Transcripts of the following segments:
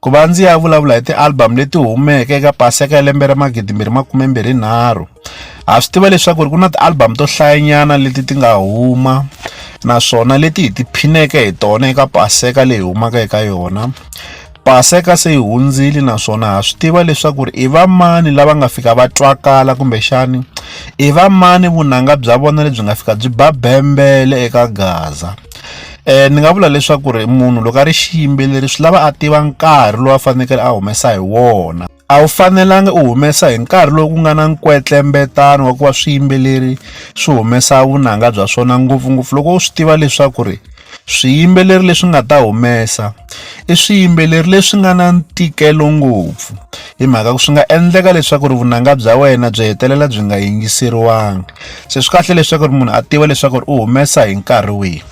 Ku va ndzi ya vulavula hi ti-album leti humeke eka paseka ya lembe ra magidi mbirhi makume mbirhi nharhu ha swi tiva leswaku ri ku na ti-album to hlayanyana leti ti nga huma naswona leti hi tiphineke hi tona eka paseka leyi humaka eka yona paseka se yi hundzile naswona ha swi tiva leswaku ri i vamani lava nga fika va twakala kumbexani i vamani vunanga bya vona lebyi nga fika byi ba bembele eka gaza Ni nga vula leswaku ri munhu loko a ri xiyimbeleri swi lava a tiva nkarhi lowu a fanekele a humesa hi wona a wu fanelanga u humesa hi nkarhi lowu ku nga na nkwetlembetana wa ku va swiyimbeleri swi humesa vunanga bya swona ngopfungopfu loko u swi tiva leswaku ri swiyimbeleri leswi nga ta humesa i swiyimbeleri leswi nga na ntikelo ngopfu hi mhaka ku swi nga endleka leswaku ri vunanga bya wena byi hetelela byi nga yingiseriwangi. se swi kahle leswaku ri munhu a tiva leswaku ri u humesa hi nkarhi wihi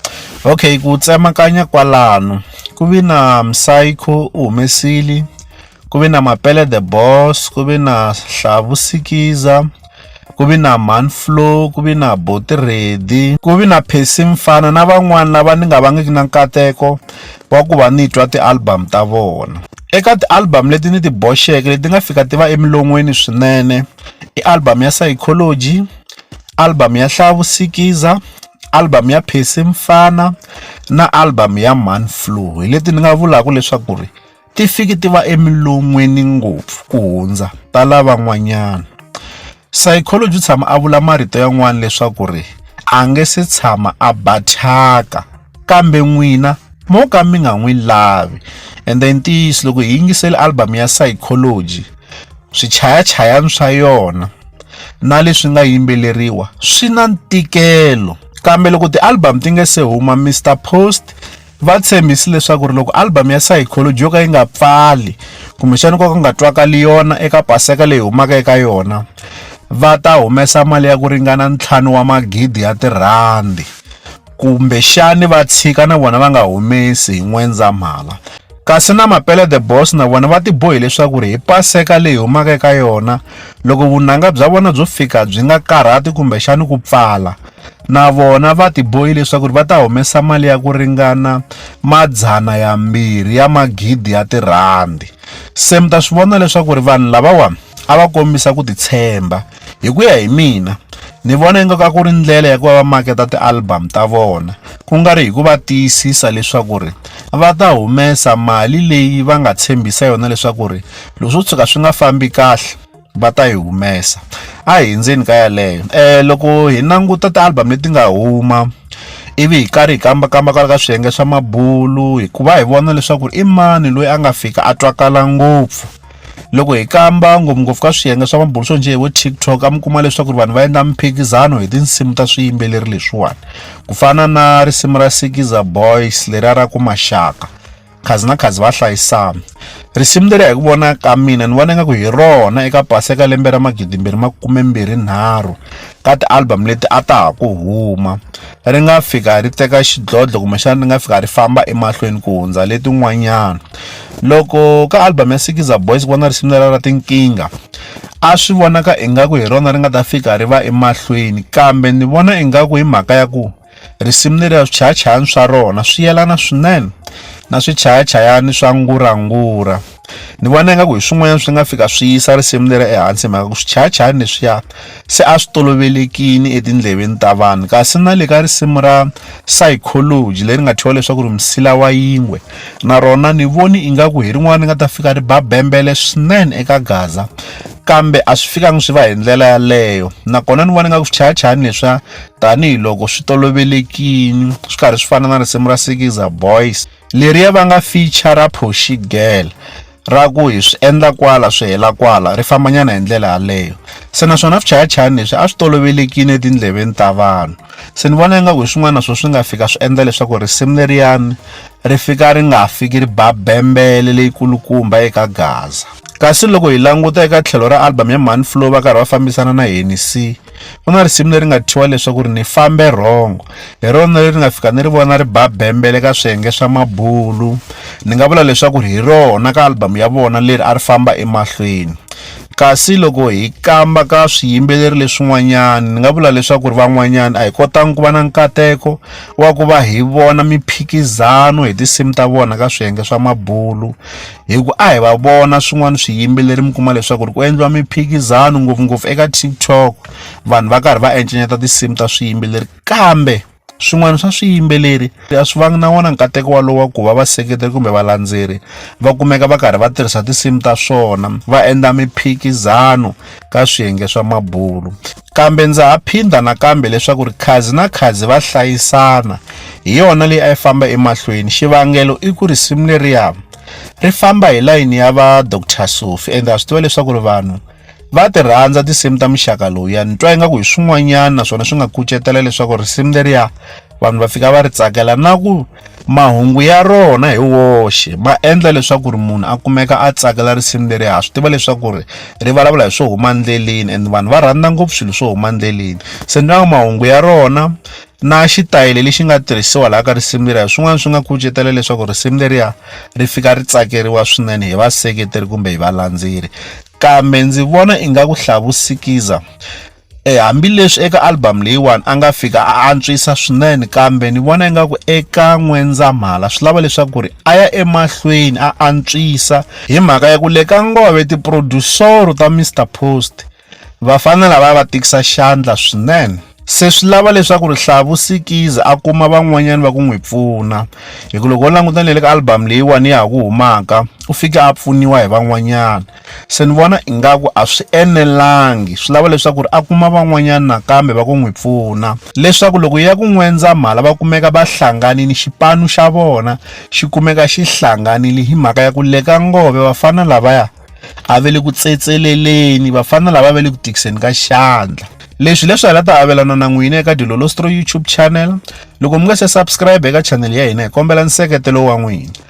okay ku tsemakanya kwalano ku vi na psycho u humesile ku vi na mapele the boss ku vi na hlavu sikiza ku vi na man flow ku vi na boti ready ku vi na phesi mfana na van'wana lava ni nga vangiki na nkateko wa ku va ni twa ti-album ta vona eka ti-album leti ni ti boxeke leti nga fika ti va emilon'weni swinene i album ya Psychology, album ya Hlaya Vusikiza, album ya Percy Mfana na album ya Mhani Flow hi leti ni nga vulaka leswaku ri ti fiki ti va emilon'weni ngopfu ku hundza ta lavan'wanyana Psychology u tshama a vula marito yan'wana leswaku ri a nge se tshama a ba thyaka. kambe n'wina mo ka mi nga n'wi lavi ende i ntiyiso loko hi yingisele album ya psychology swichayachayani swa yona na leswi nga yimbeleriwa swi na ntikelo kambe loko ti-album ti nge se huma mr post va tshembisi leswaku ri loko album ya psychology yo ka yi nga pfali kumbexana ko ka nga twakali yona eka paseka leyi humaka eka yona va ta humesa mali ya ku ringana ntlhanu wa magidi ya tirhandi kumbexani va tshika na vona va nga humesi hi N'wendzamhala. Kasi na Mapele The Boss na vona va tibohi leswaku ri hi Paseka leyi humaka eka yona, loko vunanga bya vona byo fika byi nga karhati kumbexani ku pfala, na vona va tibohi leswaku ri va ta humesa mali ya ku ringana madzana yambirhi ya magidi ya tirhandi. Se mi ta swi vona leswaku ri vanhu lavawa a va kombisa ku titshemba. Hi ku ya hi mina ni vona ingaku a ku ri ndlela ya ku va va maketa ti-album ta vona ku nga ri hi ku va tiyisisa leswaku ri va ta humesa mali leyi va nga tshembisa yona leswaku ri loko swo tshuka swi nga fambi kahle va ta yi humesa a hi ndzeni ka yaleyo loko hi languta ti-album leti nga huma ivi hi karhi hi kambakamba kwala ka swiyenge swa mabulu hikuva hi vona leswaku i mani loyi a nga fika a twakala ngopfu. loko hi kamba ngopfungopfu ka swiyenge swa mabulo swo njhe hi vo tiktok a mi kuma leswaku ri vanhu va endla mphikizano hi tinsimu ta swiyimbeleri leswiwani ku fana na risimu ra sikiza boys leri a ra ku maxaka khazi na khazi va hlayisana risimu leri hi ku vona ka mina ni vona ingaku hi rona eka pasi eka lembe ra magidimbirhi makume mbirhi nharhu ka ti-album leti a ta ha ku huma ri nga fika ri teka xidlodlo kumbexana ri nga fika ri famba emahlweni ku hundza letin'wanyana loko ka album ya sikiza boys ku vona risimu lera ra tinkingha a swi vonaka ingaku hi rona ri nga ta fika ri va emahlweni kambe ni vona ingaku hi mhaka ya ku risimu leriya swichayachayani swa rona swi yelana swinene na swichayachayani swa ngurangura ni vona ingaku hi swin'wanyana swi nga fika swi yisa risimu leri ehansi mhaka ku swichayachayani leswiya se a swi tolovelekini etindleveni ta vanhu kasi na le ka risimu ra psychology leri nga thyiwa leswaku ri msila wa yingwe na rona ni voni ingaku hi rin'wana ni nga ta fika ri ba bembele swinene eka gaza kambe a swi fikangi swi va hi ndlela yaleyo nakona ni vona nga ku swichayachayani leswiya tanihiloko swi tolovelekini swi karhi swi fana na risimu ra sikiza boys Leriya va nga feature ra Phoxi Girl ra ku hi swi endla kwala swi hela kwala ri fambanyana hi ndlela yaleyo se naswona swichayachayani leswi a swi tolovelekile etindleveni ta vanhu se ni vona ingaku hi swin'wana swo swi nga fika swi endla leswaku risimu leriyani ri fika ri nga fiki ri ba bembele leyi kulukumba eka gaza kasi loko hi languta eka tlhelo ra album ya mhani flow va karhi va fambisana na henisi ku na risimu leri nga thyiwa leswaku ri ni fambe rhongo hi rona leri nga fika ni ri vona ri ba bembele ka swiyenge swa mabulu ni nga vula leswaku ri hi rona ka album ya vona leri a ri famba emahlweni kasi loko hi kamba ka swiyimbeleri leswin'wanyana ni nga vula leswaku ri van'wanyana a hi kotangi ku va na nkateko wa ku va hi vona miphikizano hi tinsimu ta vona ka swiyenge swa mabulu hi ku a hi va vona swin'wana swiyimbeleri mi kuma leswaku ri ku endliwa miphikizano ngopfungopfu eka tiktok vanhu va karhi va encenyeta tinsimu ta swiyimbeleri kambe swin'wana swa swiyimbeleri a swi vangi na wona nkateko walowo wa ku va vaseketeri kumbe valandzeri va kumeka va karhi va tirhisa tinsimu ta swona va endla miphikizano ka swiyenge swa mabulo Kambe ndza ha phinda nakambe leswaku ri khazi na khazi va hlayisana, hi yona leyi a yi famba emahlweni. Xivangelo i ku risimu leriya ri famba hi layini ya va Doctor Sophie ende ha swi tiva leswaku ri vanhu va ti rhandza tinsimu ta muxaka lowuya ni twa ingaku hi swin'wanyana naswona swi nga kucetela leswaku risimu leriya vanhu va fika va ri tsakela na ku mahungu ya rona hi woxe ma endla leswaku ri munhu a kumeka a tsakela risimu leri ha swi tiva leswaku ri ri vulavula hi swo huma endleleni and vanhu va rhandza ngopfu swilo swo huma endleleni se ni nga mahungu ya rona na xitayele lexi nga tirhisiwa laha ka risimu leriya hi swin'wana swi nga kucetela leswaku risimu leriya ri fika ri tsakeriwa swinene hi vaseketeri kumbe hi valandzeri kambe ndzi vona ingaku hlavusikiza Hambileswi eka album leyiwani a nga fika a antswisa swinene kambe ni vona ingaku eka N'wendzamhala swi lava leswaku ri a ya emahlweni a antswisa hi mhaka ya ku le ka Ngove tiprodusoro ta Mister Post vafana lava va tikisa xandla swinene se swi lava leswaku ri Hlavu Sikizi a kuma van'wanyana va ku n'wi pfuna hi ku loko wo languta ni le ka album leyiwani ya ha ku humaka u fike a pfuniwa hi van'wanyana Se ni vona ingaku a swi enelangi swi lava leswaku ri a kuma van'wanyana nakambe va ku n'wi pfuna leswaku loko ya ku N'wendzamhala va kumeka va hlanganini xipanu xa vona xi kumeka xi hlanganile hi mhaka ya ku le ka Ngove vafana lavaya a ve le ku tsetseleleni vafana lava ve le ku tikiseni ka xandla leswi leswi hala ta avelana na n'wina eka Dilolostro YouTube channel loko mi nga se subscribe eka channel ya hina hi kombela nseketelo wa n'wina